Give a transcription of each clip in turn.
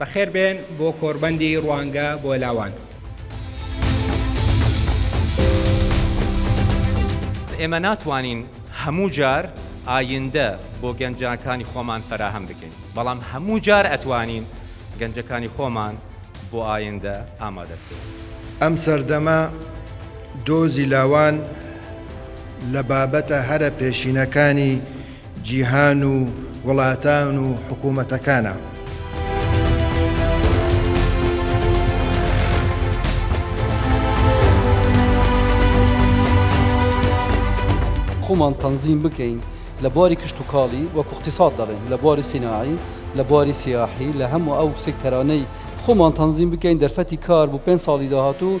بەخێر بێن بۆ کۆربەندی ڕوانگە بۆ لاوان. ئێمە ناتوانین هەموو جار ئایندە بۆ گەنجانکانی خۆمان فەراهەم بکەین، بەڵام هەموو جار ئەتوانین گەنجەکانی خۆمان بۆ ئایندە ئامادە بکەین. ئەم سەردەمە دۆزی لاوان لە بابەتە هەرە پێشینەکانی جیهان و وڵاتان و حکوومەتەکانە. خۆمان تەنزیم بکەین لە بواری کشتوکاڵی وەکو اقتصاد دەڵێن لە بواری سیناعی لە بواری سیاحی لە هەموو ئەو سکتەرانەی خۆمان تەنزیم بکەین دەرفەتی کار بۆ پێنج ساڵی داهاتوو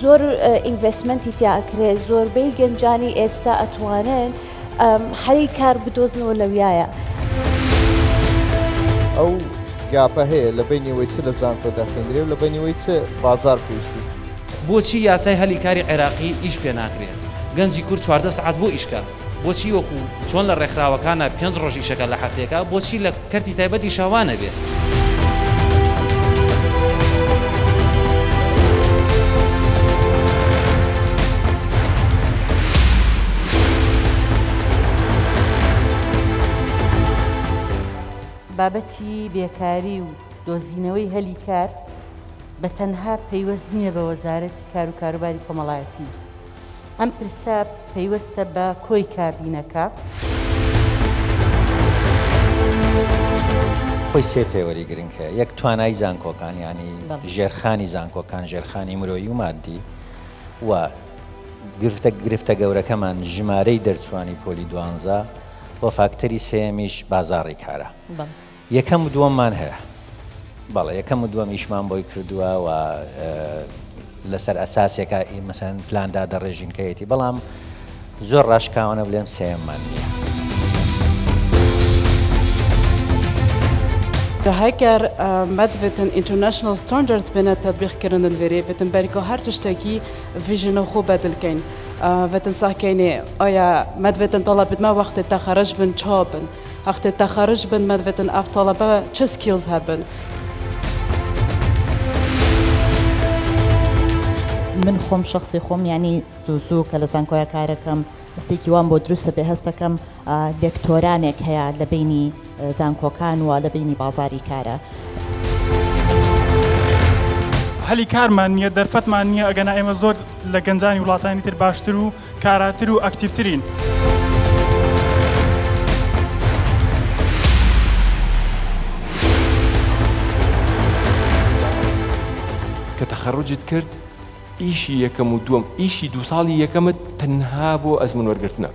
زۆر ئینڤێسمەنتی تیا ئەکرێ زۆربەی گەنجانی ئێستا ئەتوانن حەلی کار بدۆزنەوە لەویایە. ئەو گاپە هەیە لە بینیەوەی چ لە زانکۆ دەخوێندرێ و لە بینیەوەی چ بازار پێویستی. بۆچی یاسای هەلی کاری عێراقی ئیش پێ ناکرێ گەنجی کورد چواردە سەعات بۆ ئیش کە. بۆچی وەکو چۆن لە ڕێکخراوەکانە پێنج ڕۆژ ئیشەکە لە هەفتەیەکە بۆچی لە کەرتی تایبەت ئیشا وا نەبێ؟ بابەتی بێکاری و دۆزینەوەی هەلی کار بە تەنها پەیوەست نییە بە وەزارەتی کار و کاروباری کۆمەڵایەتی، ئەم پرسە پەیوەستە بە کۆی کابینەکە. خۆی سێ پێوەری گرنگ هەیە، یەک توانای زانکۆکان یانی ژێرخانی زانکۆکان، ژێرخانی مرۆیی و ماددی و گرفتە گرفتە گەورەکەمان ژمارەی دەرچووانی پۆلی دوانزە و فاکتەری سێیەمیش بازاڕی کارە. یەکەم و دووەممان هەیە. بەڵێ یەکەم و دووەم ئیشمان بۆی کردووە و لەسەر ئەساسێکە ئی مەسەن پلان دادەڕێژین کە یەتی بەڵام زۆر ڕاشکاوانە بلێم سێیەممان نییە. دهکر مد وتن ئینترنشنل ستاندردز بنە تطبیق کردن وێرێ وتن بەرکۆ هەر تشتێکی ڤیژن و خۆ بەدل کەین وتن ساکەینێ ئایا مد وتن تەڵە بدمە وەختێ تەخەرەج بن چا بن هەقتێ تەخەرج بن مەن ڤتن ئەڤ تەڵەبە چ سکیڵز هەبن. من خۆم شەخسی خۆم یانی زوو زوو کە لە زانکۆیە کارەکەم هەستێکی وام بۆ دروستە بێ هەستەکەم لێکتۆرانێک هەیە لە بینی زانکۆکان و لە بینی بازاری کارە. هەلی کارمان نییە دەرفەتمان نییە ئەگەنا ئێمە زۆر لە گەنجانی وڵاتانی تر باشتر و کاراتر و ئەکتیڤترین. کە تەخەروجت کرد ئیشی یەکەم و دووەم ئیشی دوو ساڵی یەکەمت تەنها بۆ ئەزمون وەرگرتنە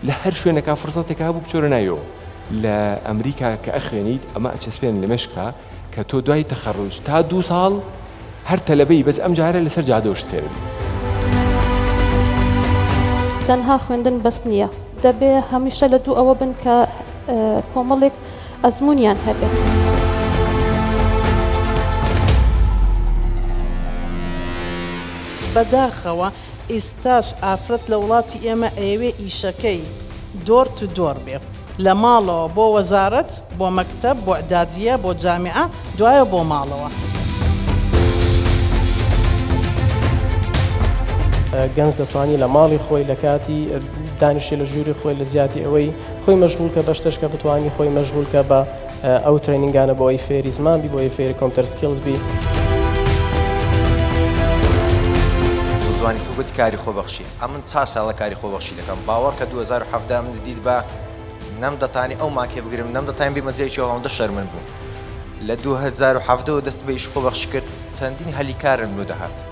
لە هەر شوێنەکە فرسەتێکا بوو بچۆرە ناویەوە لە ئەمریکا کە ئەخوێنیت ئەمە ئەچەسپێن لە مێشکتا کە تۆ دوای تەخەڕوج تا دوو ساڵ هەر تەلەبەی بەس ئەم جارە لەسەر جادەوە شت فێر ئەبی. تەنها خوێندن بەس نیە دەبێ هەمیشە لە دوو ئەوە بن کە کۆمەڵێک ئەزمونیان هەبێت. بەداخەوە ئیستاش ئافرەت لە وڵاتی ئێمە ئەیەوێ ئیشەکەی دۆر تو دۆر بێ لە ماڵەوە بۆ وەزارەت بۆ مەکتەب بۆ ئدادیە بۆ جامیعە دوایە بۆ ماڵەوە. گەنج دەتوانی لە ماڵی خۆی لە کاتی دانیشتنی لە ژوری خۆی لە جیاتی ئەوەی خۆی مەشغول کە بەشتش کە بتوانی خۆی مەشغول کە بە. ئەو ترەینینگانە بۆ ئەوەی فێری زمان بی بۆ ئەوەی فێری کۆمپیوتەر سکیڵز بی. زۆرجوانی کە گوت کاری خۆبەخشی ئەمن چار ساڵە کاری خۆبەخشی دەکەم باوەڕکە دوو هەزار و حەڤدە من دیت بە نەم دەتانی ئەو ماکێ بگرم نەم دەتان بیمە جێکی ئەوەندە شەرمن بوو لە دوو هەزار و حەڤدەوە دەست بە ئیش خۆبەخش کرد چەندین هەلی کارم لۆ دەهات